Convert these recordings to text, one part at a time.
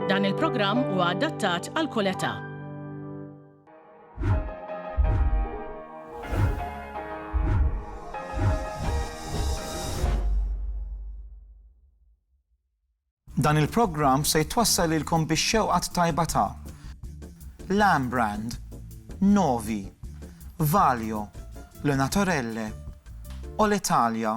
Dan il-programm huwa adattat għal kull età. Dan il-programm se jitwassal ilkom biex xewqat tajba ta' Lamb Brand, Novi, Valio, Le Naturelle, Olitalia,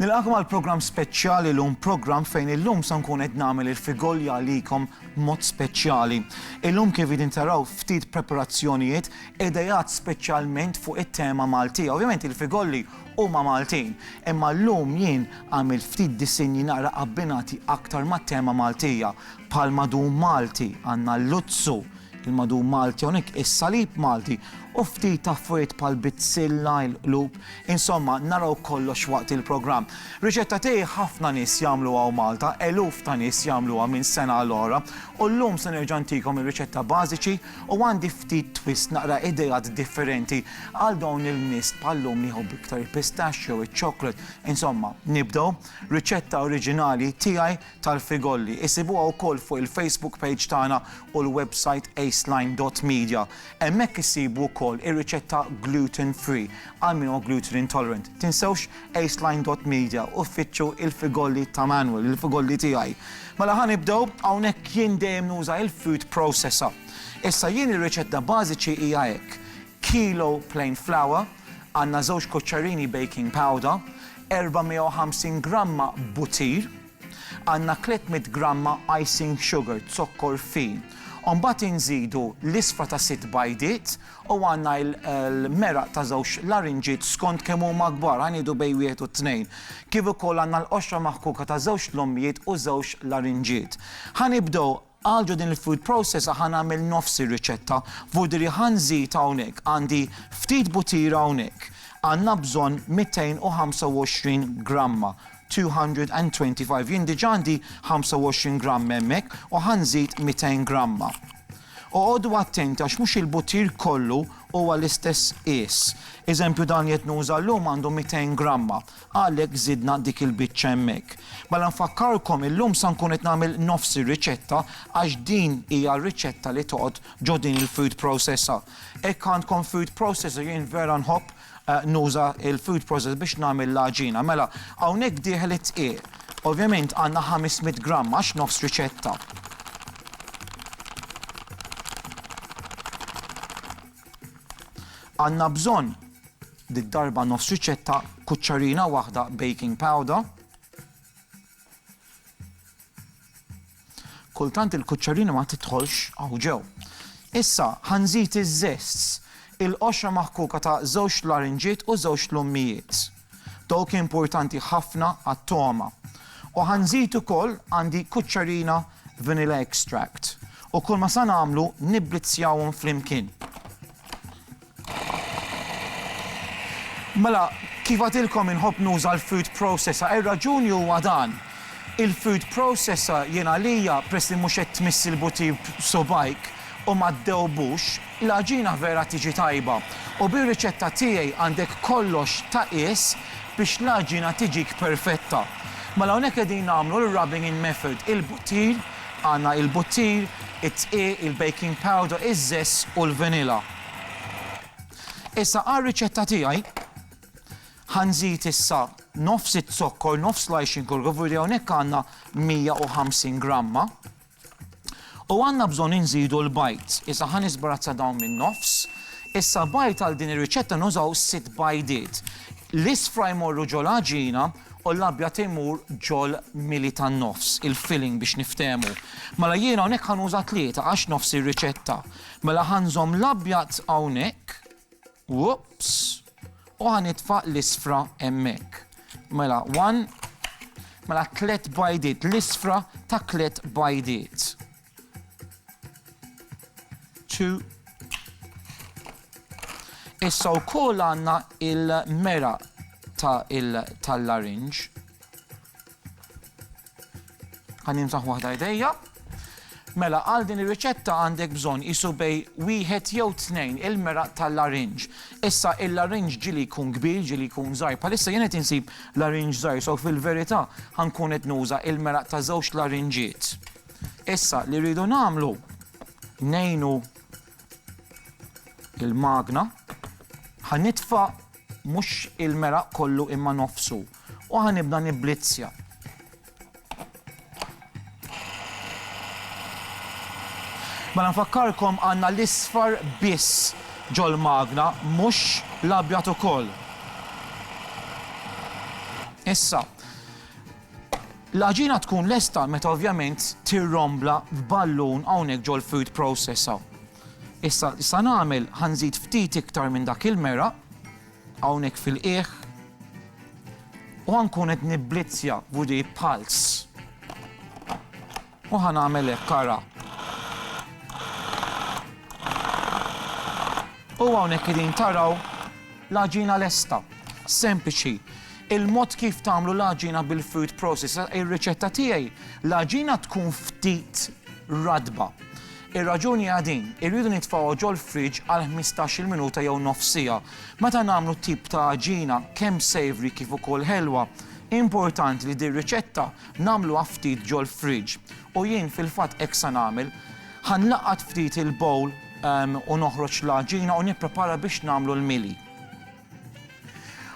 Nilqakom għal programm speċjali llum, programm fejn illum se nkun qed nagħmel il-figolja għalikom b'mod speċjali. Illum kif qegħdin taraw ftit preparazzjonijiet idejat speċjalment fuq it-tema Maltija. Ovvjament il-figolli huma Maltin, imma llum jien għamilt ftit disinji naqra abbinati aktar mat-tema Maltija. Bħall-madum Malti għandna l-luzzu, il-madum Malti hawnhekk, is-salib Malti u ftit affarijiet bħall-bizzilla, il-qlub, insomma naraw kollox waqt il-programm. Riċetta tiegħi ħafna nies jagħmluha u Malta, eluf ta' nies jagħmluha minn sena għal oħra u llum se nerġa' ntikom ir-riċetta bażiċi u għandi ftit twist naqra ideat differenti għal dawn il-nies bħal-lum li jħobbu iktar il-pistachio, iċ-chocolate, insomma nibdew, riċetta oriġinali tiegħi tal-Frigolli. Isibuha wkoll fuq il-Facebook page tagħna u l-website aceline dot media. Hemmhekk issibu wkoll ir-riċetta gluten free għal min huwa gluten intolerant. Tinsewx aceline dot media u ffittxu il-frigolli ta' Manuel, il-frigolli tiegħi. Mela ħa nibdew, hawnhekk jien dejjem nuża il-food processor. Issa jien ir-riċetta bażiċi hija hekk, kilo plain flour, għandna żewġ kuċċarini baking powder, 450 gramma butir, għandna 300 gramma icing sugar, zokkor fin. U mbagħad inżidu l-isfra ta' sitt bajdiet u għandna l-meraq ta' żewġ larinġiet skont kemm huma kbar, ħa ngħidu bejn wieħed u tnejn. Kif ukoll għandna l-qoxra maħkuka ta' żewġt lommijiet u żewġt larinġiet. Ħa nibdew Għal ġo din il-food processor ħa nagħmel nofs ir-riċetta. Vudri ħa nżid hawnhekk, għandi ftit butira hawnhekk. Għandna bżonn 225 gramma, 225. Jien diġà għandi 25 gramm hemmhekk u ħa nżid 200 gramma. Oqogħdu attenti għax mhux il-butir kollu huwa l-istess qies. Eżempju dan li qed nuża llum għandu 200 gramma. Għalhekk żidna dik il-biċċa hemmhekk. Mela nfakkarkom illum sa nkun qed nagħmel nofs ir-riċetta għax din hija r-riċetta li toqgħod ġo din il-food processor. Hekk għandkom food processor jien vera nħobb nuża l-food processor biex nagħmel l-għaġina. Mela hawnhekk dieħel id-dqiq. Ovvjament għandna ħames mitt gramm għax nofs riċetta. Għandna bżonn Did-darba nofs riċetta, kuċċarina waħda baking powder. Kultant il-kuċċarina ma tidħolx hawn ġew. Issa ħa nżid iż-żests, il-qoxra maħkuka ta' żewġt larinġiet u żewġt lummijiet. Dawk importanti ħafna għat-togħma. U ħa nżid ukoll għandi kuċċarina vanilla extract. U kulma sa nagħmlu nibblizzjawhom flimkien. Mela, kif għadtilkom inħobb nuża l-food processor. Ir-raġuni huwa dan, il-food processor jien għalija peress li mhux qed tmiss il-butir b'subgħajk u ma ddewbux, l-għaġina vera tiġi tajba. U bir-riċetta tiegħi għandek kollox ta' qies biex l-għaġina tiġik perfetta. Mela hawnhekk qegħdin nagħmlu l-rubbing in method, il-buttir, għandna il-buttir, it-dqiq, il-baking powder, iż-żess u l-vanilla. Issa għar-riċetta tiegħi ħa nżid issa nofs iz-zokkor, nofs l-għajxin kollu, kif uriet hawnhekk għandna 150 gramma. U għandna bżonn inżidu l-bajd. Issa ħa nisbrazza dawn min-nofs. Issa bajd għal din ir-riċetta nużaw sitt bajdiet. L-isfra jmorru ġol għaġina u l-abjad imur ġol mili tan-nofs, il-filling biex niftehmu. Mela jiena hawnhekk ħa nuża tlieta għax nofs ir-riċetta Mela ħa nżomm l-abjad hawnhekk, whoops, u ħa nitfa' l-isfra hemmhekk. Mela one, mela tliet bajdiet, l-isfra ta' tliet bajdiet. Two, Issa wkoll għandna il-mera tal-larinġ. Ħa nimsaħ waħda jdejja. Mela għal din ir-riċetta għandek bżonn qisu bej wieħed jew tnejn il-meraq tal-larinġ. Issa il-larinġ ġieli jkun kbir, ġieli jkun żgħir. Bħalissa jien qed insib larinġ żgħir, so fil-verità ħankun qed nuża il-meraq ta' żewġ larinġiet. Issa li rridu nagħmlu ngħinu il-magna ħanitfa' mhux il-meraq kollu imma nofsu. U ħa nibda nibblizzja. Mela nfakkarkom għandna l-isfar biss ġol-magna mhux l-abjad ukoll. Issa, l-aġina tkun lesta meta ovvjament tirrombla f'ballun hawnhekk ġol food processor. Issa, issa nagħmel ħanżid ftit iktar minn dak il-mera. Hawnhekk fil-qiegħ. U ħa nkun qed nibblizzja b'widi b'pulse. U ħa nagħmel hekk ara. U hawnhekk qegħdin taraw l-għaġina lesta. Sempliċi. Il-mod kif tagħmlu l-għaġina bil-food processor ir-riċetta tiegħi l-għaġina tkun ftit radba. Ir-raġuni hija din, irridu nitfgħuha ġol-friġġ għal ħmistax-il minuta jew nofs siegħa. Meta nagħmlu t-tip ta' għaġina, kemm savory kif ukoll ħelwa, importanti li dir-riċetta nagħmluha ftit ġol-friġġ. U jien fil-fatt hekk sa nagħmel. Ħa nlaqqat ftit il-bowl u noħroġ l-għaġina u nipprepara biex nagħmlu l-mili.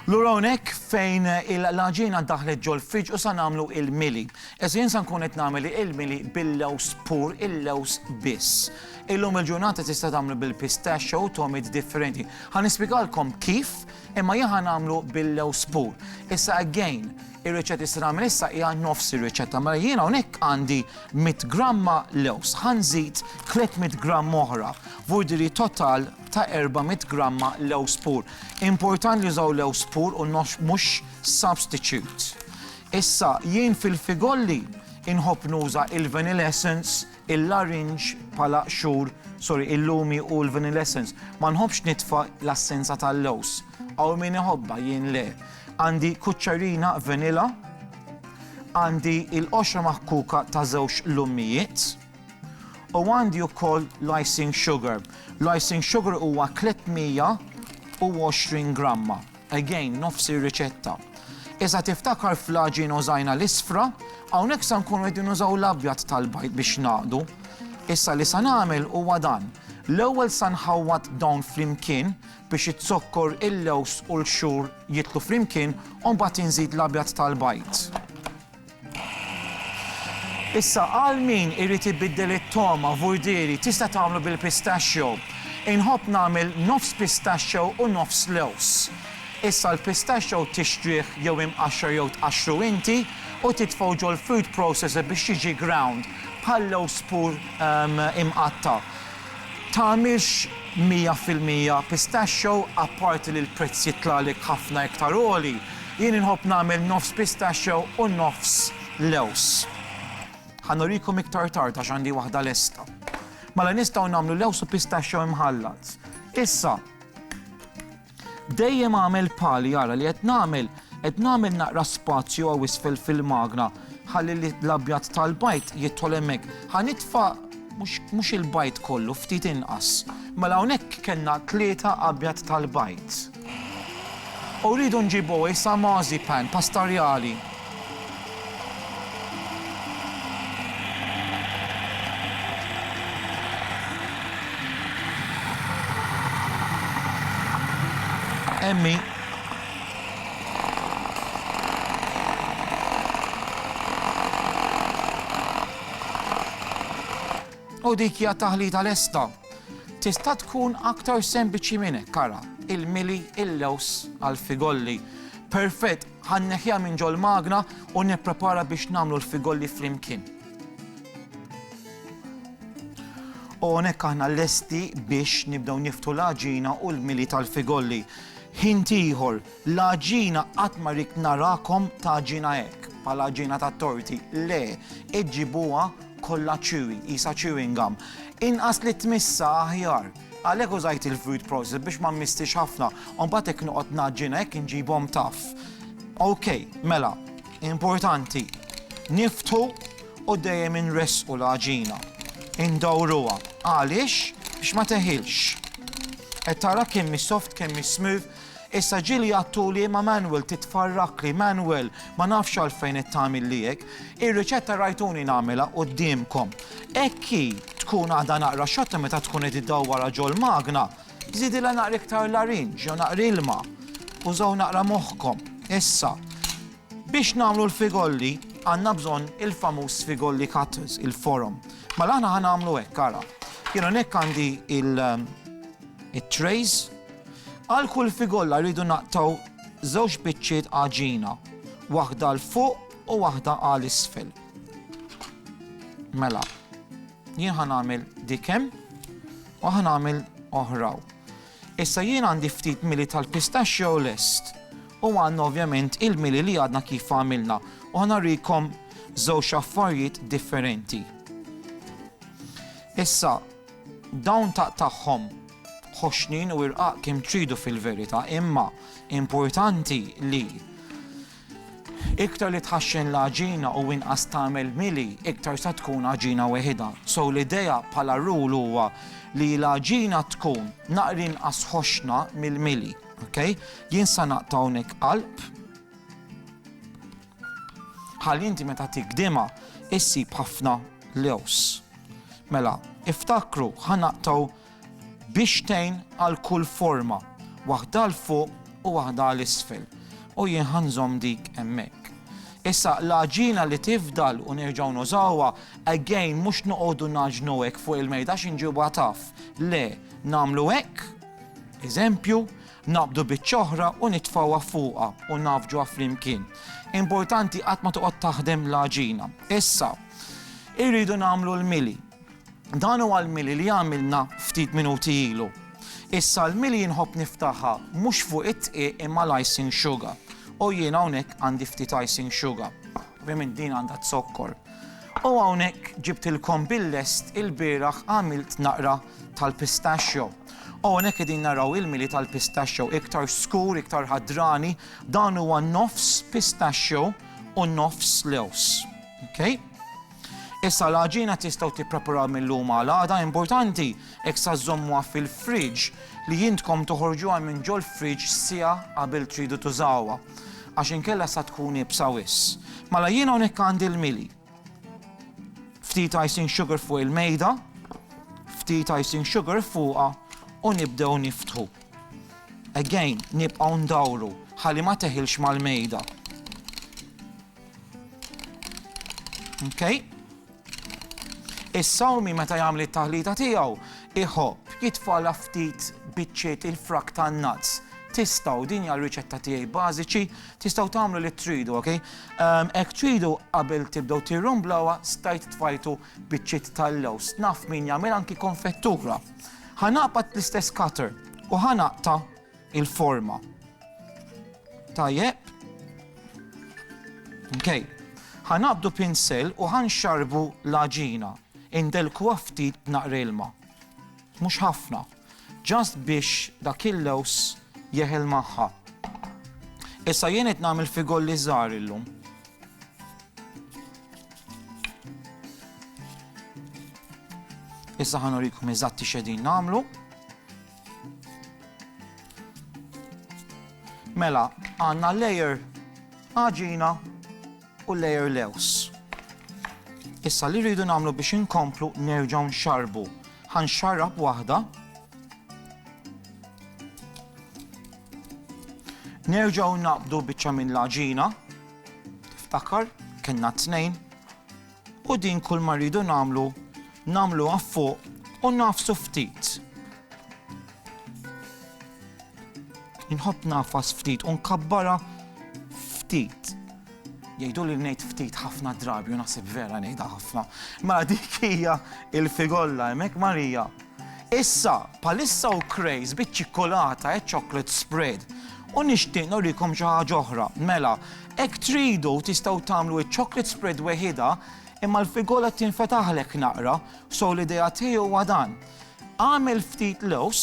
Lura hawnhekk fejn il-l-għaġiena ddaħħlet ġol-fridge u sa nagħmlu il-mili. Issa jien sa nkun qed nagħmel il-mili bil-lewż pur, il-lewż biss. Illum il-ġurnata tista' tagħmlu bil-pistachio u togħmiet differenti. Ħa nispjegalkom kif, imma jien ħa nagħmlu bil-lewż pur. Issa again, ir-riċetta li se nagħmel issa hija nofs ir-riċetta. Mela jien hawnhekk għandi 100 gramma lewż. Ħa nżid 300 gramm oħra, vuol dire total ta' 400 gramma lewż pur. Importan li jużaw lewż pur u mhux substitute. Issa, jien fil-figolli inħobb nuża il-vanilla essence, il-larinġ bħala qxur, sorry, il-lumi u l-vanilla essence. Ma nħobbx nitfa' l-assenza tal-lewż. Hawn min iħobbha, jien le. Għandi kuċċarina vanilla, għandi il-qoxra maħkuka ta' żewġ lummijiet, U għandi wkoll l-icing sugar. L-icing sugar huwa 320 gramma. Again, nofs ir-riċetta. Iżda tiftakar fl-għaġin użajna l-isfra, hawnhekk se nkunu qegħdin nużaw l-abjad tal-bajd biex ngħaqdu. Issa li se nagħmel huwa dan. L-ewwel se nħawwad dawn flimkien biex iz-zokkor, il-lewż u l-xhur jidħlu flimkien u mbagħad inżid l-abjad tal-bajd. Issa għal min irid ibiddel it-togħma, vurdieri, tista' tagħmlu bil-pistachio. Inħobb nagħmel nofs pistachio u nofs lewż. Issa l-pistachio tixtrih jew imqaxxar jew tqaxxru inti u titfgħu ġol-food processor biex jiġi ground, bħal lewż pur imqatta'. Tagħmilx 100% pistachio apparti li l-prezz jitlagħlek ħafna iktar għoli, jien inħobb nagħmel nofs pistachio u nofs lewż. Ħa nurikom iktar tard għax għandi waħda lesta. Mela nistgħu nagħmlu lewż u pistachio imħallat. Issa, Dejjem għamel pali ara li qed nagħmel, qed nagħmel naqra spazju hawn isfel fil-magna ħalli l-abjad tal-bajd jidħol hemmhekk. Ħa nitfa' mhux il-bajd kollu, ftit inqas. Mela hawnhekk kellna tlieta abjad tal-bajd. U rridu nġibu issa mażi pan, pastarjali. Emmi. U dik hija taħlita lesta. Tista' tkun aktar sempliċi minn hekk kara il-mili il-lews għal figolli. Perfett Ħa nneħħiha minn ġol-magna u nipprepara biex nagħmlu l-figolli flimkien. U hawnhekk aħna lesti biex nibdew niftu l-għaġina u l-mili tal-figolli. Ħin ieħor, l-għaġina qatt ma rikt narakom tagħġina hekk, bħala għaġina tat-torti. Le, iġġibuha kollha chewy, qisha chewing gum. Inqas li tmissha aħjar. Għalhekk użajt il-food processor biex ma mmistix ħafna u mbagħad hekk noqgħod ngħaġġinha hekk inġibhom taff. Ok, mela, importanti, niftħu u dejjem inressqu l-għaġina. Indawruha. Għaliex? Biex ma teħilx. Qed tara kemm hi soft, kemm hi smooth, Issa ġieli għattu li ma Manuel titfarrakli, Manuel ma nafx għalfejn qed tagħmilli hekk. Ir-riċetta rajtuni nagħmilha quddiemkom. Hekk hi, tkun għadha naqra xotta meta tkun qed iddawwarha ġol-magna. Żidilha naqra iktar larinġ jew naqra ilma. Użaw naqra moħħkom. Issa, biex nagħmlu l-figolli, għandna bżonn il-famuż figolli cutters, il-forom. Mela aħna ħa nagħmlu hekk, ara. Jien hawnhekk għandi il- it-trays. Għal kull figolla rridu naqtgħu żewġ biċċiet għaġina, waħda 'l fuq u waħda għal isfel. Mela, jien ħa nagħmel dikem u ħa nagħmel oħraw. Issa jien għandi ftit mili tal-pistachio lest u għandna ovvjament il-mili li għadna kif għamilna u ħana rikom żewġ affarijiet differenti. Issa, Dawn taqtagħhom b'ħoxnien u irqaq kemm tridu fil-verità, imma importanti li iktar li tħaxxen l-għaġina u inqas tagħmel mili, iktar sa tkun għaġina weħidha. So l-idea bħala rule huwa li l-għaġina tkun naqra inqas ħoxna mill-mili. Ok? Jien sa naqta' hawnhekk qalb. Ħalli inti meta tigdimha issib ħafna lews. Mela, iftakru ħa naqtgħu bixtejn għal kull forma, waħda 'l fuq u waħda 'l isfel, u jien ħa nżomm dik hemmhekk. Issa, l-għaġina li tifdal u nerġgħu nużawha, again, mhux noqogħdu ngħaġnu hekk fuq il-mejda għax inġibuha tough. Le, nagħmlu hekk, eżempju, Naqbdu biċ-ċoħra u nitfgħuha fuqha u nafġuha flimkien. Importanti qatt ma toqgħod taħdem l-għaġina. Issa, irridu nagħmlu l-mili. Dan huwa l-mili li għamilna ftit minuti ilu. Issa l-mili jien nħobb niftaħha mhux fuq id-dqiq imma l-icing sugar. U jien hawnhekk għandi ftit icing sugar. Ovvjament din għandha zokkor. U hawnhekk ġibtilkom bil-lest ilbieraħ għamilt naqra tal-pistachio. Hawnhekk qegħdin naraw il-mili tal-pistachio iktar skur, iktar ħadrani, dan huwa nofs pistachio u nofs lewż. Okay? Issa l-għaġina tistgħu tippreparaw mill-lum għal għada importanti hekk sa żommuha fil-fridge li jintkom toħorġuha minn ġol fridge sija qabel tridu tużawha. Għax inkella sa tkun ibsa wis. Mela jiena hawnhekk għandi l-mili. Ftit icing sugar fuq il-mejda, ftit icing sugar fuqha u nibdew niftħu. Again, nibqgħu ndawru ħalli ma teħilx mal-mejda. Okay? Is-sawmi meta jagħmel it-taħlita tiegħu iħobb jitfala ftit biċċiet il-frak tan-nuts. Tistgħu din hija riċetta tiegħi bażiċi Tistgħu tagħmlu li tridu, ok? Hekk tridu qabel tibdew tirrumblawha stajt tfajtu biċċiet tal-lewż. Naf min jagħmel anki konfettura. Ħa naqbad bl-istess cutter u ħa naqta' il-forma. Tajjeb. Ok. Ħa naqbdu pinsel u ħa nxarbu l-għaġina. Indelkuha ftit b'naqra ilma. Mhux ħafna. Just biex dak il-lewż jeħel magħha. Issa jien qed nagħmel figolli żgħar illum. Issa ħanurikom eżatti xedin nagħmlu. Mela, għandna layer għaġina u layer lewż. Issa li rridu nagħmlu biex inkomplu nerġgħu nxarbu. Ħanxarrab waħda. Nerġgħu naqbdu biċċa minn l-aġina. Tiftakar, kellna tnejn. U din kull ma rridu nagħmlu, nagħmluha fuq u nafsu ftit. Inħobb ngħafas ftit u nkabbarha ftit. Jgħiduli li ngħid ftit ħafna drabi u naħseb vera ngħidha ħafna. Mela dik hija l-figolla hemmhekk Marija. Issa, palissa u krejs biċ-ċikkolata e chocolate spread. U nixtieq norikom xi ħaġa oħra. Mela, hekk tridu tistgħu tagħmlu ċ-chocolate spread weħidha imma l-figola tinfetaħlek naqra, so l-idea tiegħi huwa dan. Agħmel ftit lewż,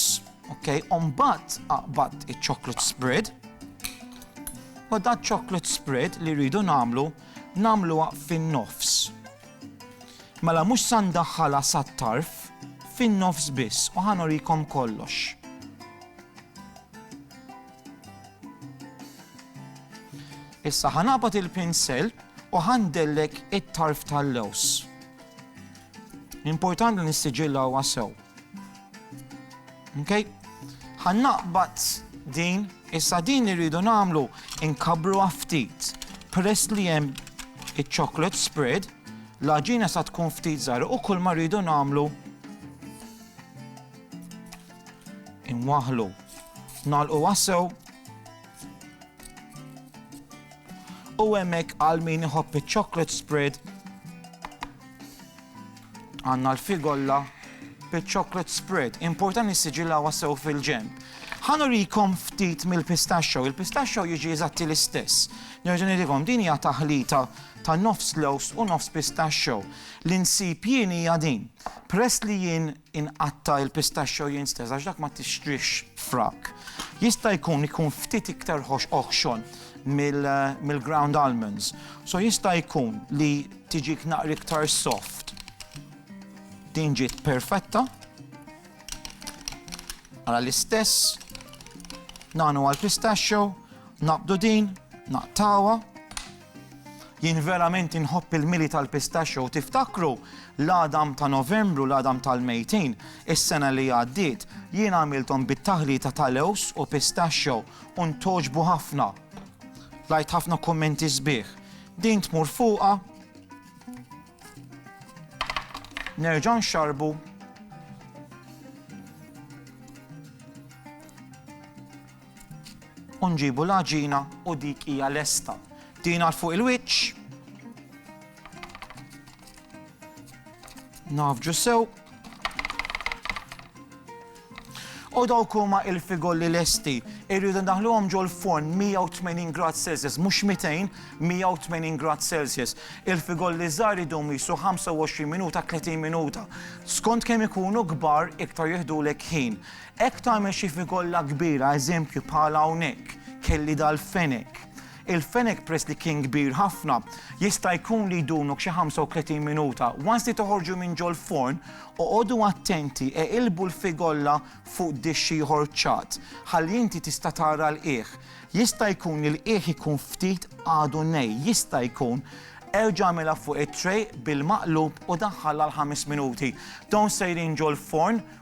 ok, u mbagħad aqbad iċ-chocolate spread. U da chocolate spread li rridu nagħmlu, nagħmluha fin-nofs. Mela mhux sa ndaħħalha sat-tarf, fin-nofs biss u ħanorikom kollox. Issa ħanabat il-pinsel u ħandellek it-tarf tal-lews. L-importanti li nissiġilla huwa sew. Okay? Ħan naqbad din, issa din li rridu nagħmlu inkabru ftit. Press li hemm iċ-chocolate spread, l-aġina sa tkun ftit żgħar u kull ma rridu nagħmlu inwaħlu. Nalqu wassew u hemmhekk għal min iħobb iċ-chocolate spread Għandna l-figolla biċ-chocolate spread. Importan nissiġillawha sew fil-ġenb. Ħa nurikom ftit mill-pistachio. Il-pistachio jiġi eżatti l-istess. Nerġa' nirikom din hija taħlita ta' nofs lows u nofs pistachio. L-insib jien hija din. Press li jien inqatta' il-pistaxxo jinstez għax dak ma tixtrihx frak. Jista' jkun ikun ftit iktar ħox oħxon mill-ground almonds. So jista' jkun li tiġik naqra iktar soft. Din ġiet perfetta. Għala l-istess, nagħnu għal pistachio, naqbdu din, naqtawa, Jien verament inħobb il-mili tal-pistachio u tiftakru l-għadam ta' Novembru, l-għadam tal-mejtin, is-sena li għaddiet, jien għamilthom bit-taħlita ta' lewż u pistachio u ntgħoġbu ħafna. Rajt ħafna kummenti sbieħ. Din tmur fuqha nerġa' nxarbu U nġibu l-għaġina u dik hija lesta. Tina 'l fuq il-wiċċ. Nafġu sew. U dawk huma il-figolli lesti. Irridu ndaħluhom ġol forn 180 grad Celsius, mhux 200, 180 grad Celsius. Il-figolli żgħar idum jisu 25 minuta 30 minuta. Skont kemm ikunu kbar iktar jihdulek ħin. Hekk tagħmel xi figolla kbira, eżempju bħal hawnhekk, kelli dal-fenek. Il-fenek peress li kien kbir ħafna, jista' jkun li jdumlok xi 35 minuta. Once li toħorġu minn ġol-forn, oqogħdu attenti, eqilbu l-figolla fuq dixx ieħor ċatt, ħalli inti tista' tara l-qiegħ. Jista' jkun li l-qiegħ ikun ftit għadu nej, jista' jkun. Erġa' agħmilha fuq it-tray bil-maqlub u daħħalha għal ħames minuti. Dawn sejrin ġol-forn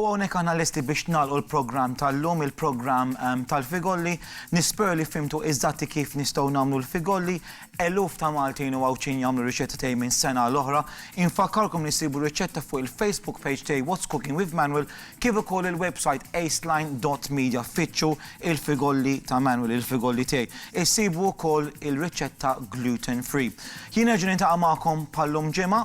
U hawnhekk aħna lesti biex nagħlqu l-programm tal-lum, il-programm tal-Figolli. Nispera li fhimtu eżatti kif nistgħu nagħmlu l-Figolli. Eluf ta' Maltin u Għawdxin jagħmlu r-riċetta tiegħi minn sena għal oħra. Infakkarkom li ssibu r-riċetta fuq il-Facebook page tiegħi What's Cooking with Manuel kif ukoll il-website aceline dot media. Ffittxu il-Figolli ta' Manuel, il-Figolli tiegħi. Issibu wkoll il-riċetta gluten free. Jien nerġa' niltaqa' magħkom bħal-lum ġimgħa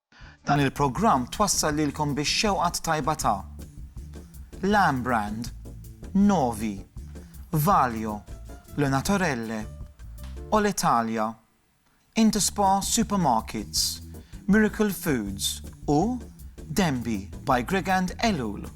Dan il-programm twassal lilkom bix-xewqa t-tajba ta' Lam Brand, Novi, Valio, Le Naturelle, Olitalia, Interspa Supermarkets, Miracle Foods u Denby by Gregand Ellul.